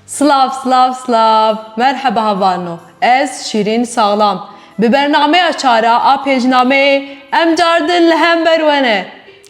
Silav silav silav merheba havano ez şîrîn saxlam bi bernameya çara a pêcnameyê em car din li hember wene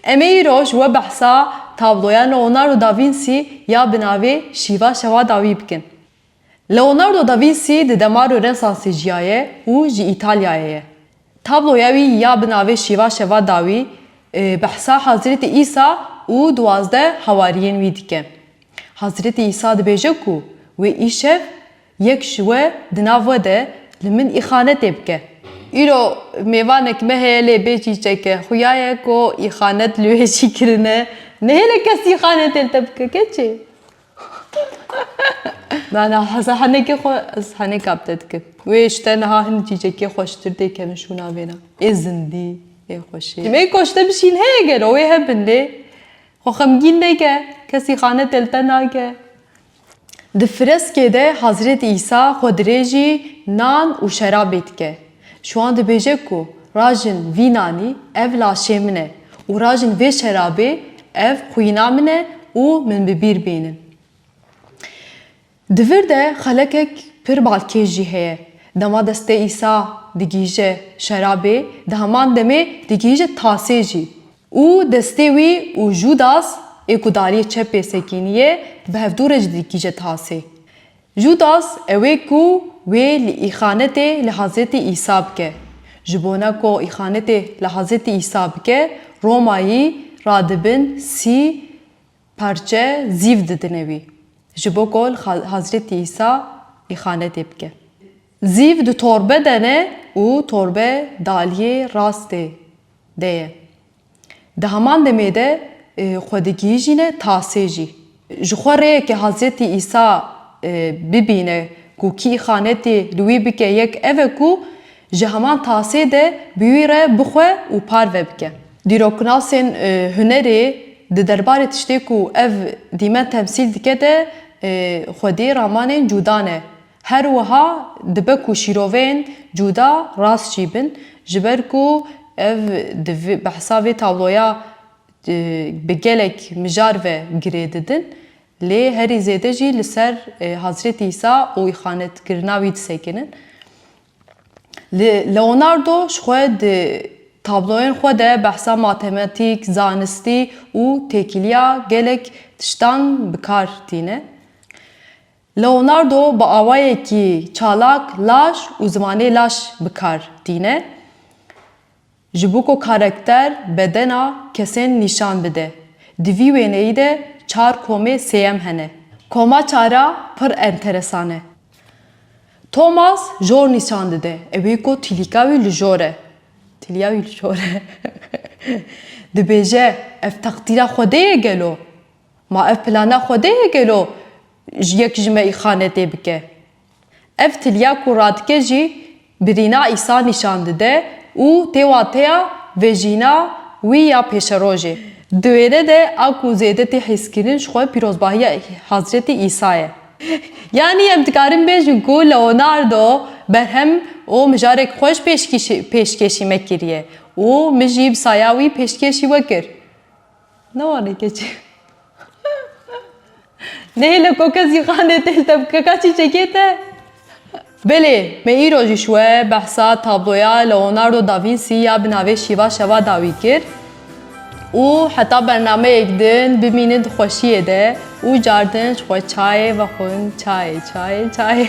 em ê îro ji we behsa tabloya Leonardo da Vinci ya bi navê şîva şewa dawî bikin. Leonardo da Vinci di demarê Rênsansê jiyaye û ji Îtalyayê ye. Tabloya wî ya bi navê Şîva Şeva Dawî behsa Hezretî Îsa û duwazdeh hawariyên wî dike. Hezretî Îsa dibêje ku wê îşev yek ji we di nav we de li min îxanetê bike. Îro mêvanek me heye lê bê çîçek e. Xuya ye ku îxanet li wê jî kirine. Nehêle kes îxanetê li te bike keçê. Na na heza henekê xwe ez heneka bi te dikim. Wê ji te niha hin cîcekê xweştir tê kemişûna vêna. Ê zindî, ê xweşê. Tim ê koçte bişîn heye gelo wê hebin lê xwe xemgîn neke, kesî xane te li te nake. Di fireskê de Hezreti Îsa xwe dirêjî nan û şerabê dike. Şwan dibêje ku rajin vî nanî ev laşê min e û rajin vê şerabê ev xwîna min e û min bi bîr bînin. Di vir de xelekek pir balkêş jî heye. Dema destê Îsa digihîje şerabê, di heman demê digihîje tasê jî û destê wî û Judas ê ku dariyê çepê sekîniye, bi hevdû re jî digihîje tasê. Judas ew ê ku wê li îxanetê li Hazretî Îsa bike. Ji bona ku îxanetê li Hazretî Îsa bike, Romayî ra di bin sî parçe zîv didine wî. Ji bo ku li Hazretî Îsa îxanetê bike. Zîv di torbe de ne û torbe daliyê rastê de ye. Di heman demê de xwe digihîjîne tasê jî. Ji xwe rêyekê Hazretî Îsa bibîne ku kî îxanetê li wî bike yek ev e ku ji heman tasê de bi wî re bixwe û parve bike. Dîroknasên hunerê di derbarê tiştê ku ev dîmen temsîl dike de xwedî ramanên cûda ne. Her wiha dibe ku şîroveyên cuda rast jî bin, ji ber ku ev di behsa vê tabloya bi gelek mijar ve girê didin, lê herî zêde jî li ser Hazretî Îsa û îxanetkirina wî disekinin. Li Leonardo ji xwe di tabloyên xwe de behsa matematîk, zanistî û têkiliya gelek tiştan bi kar tîne. Leonardo bi awayekî çalak laş û zimanê laş bi kar tîne ji bo ku karekter, bedena, kesên nîşan bide. Di vî wêneyî de çar komê sêyem hene. Koma çar a pir enteresan e. Thomas jor nîşan dide. Ew ê ku tîlîka wî li jor e. Tîlîya wî li jor e. Dibêje, ev teqdîra Xwedê ye gelo? Ma ev plana Xwedê ye gelo yek ji me îxane tê bike? Ev tilya ku radike jî birîna Îsa nîşan dide û tê wateya vejîna wî ya pêşerojê. Di wêne de a ku zêde tê hîskirin ji xwe pîrozbahiya Hezretî Îsa ye. Yanî em dikarin bêjin ku Leonardo berhem û mijarek xweş pêşkîşî pêşkêşî me kiriye û min jî bi saya wî pêşkêşî we kir. Ne wane keçi. Nehêle ko kes jî xanê têl te bike ka çîçekê te. Belê, me îro jî şwe behsa tabloya Leonardo da Vinci ya bi navê Şîva Şeva dawî kir û heta bernameyek din bimînin di xweşiyê de û car din ji xwe çayê vexwin çayê çayê çayê.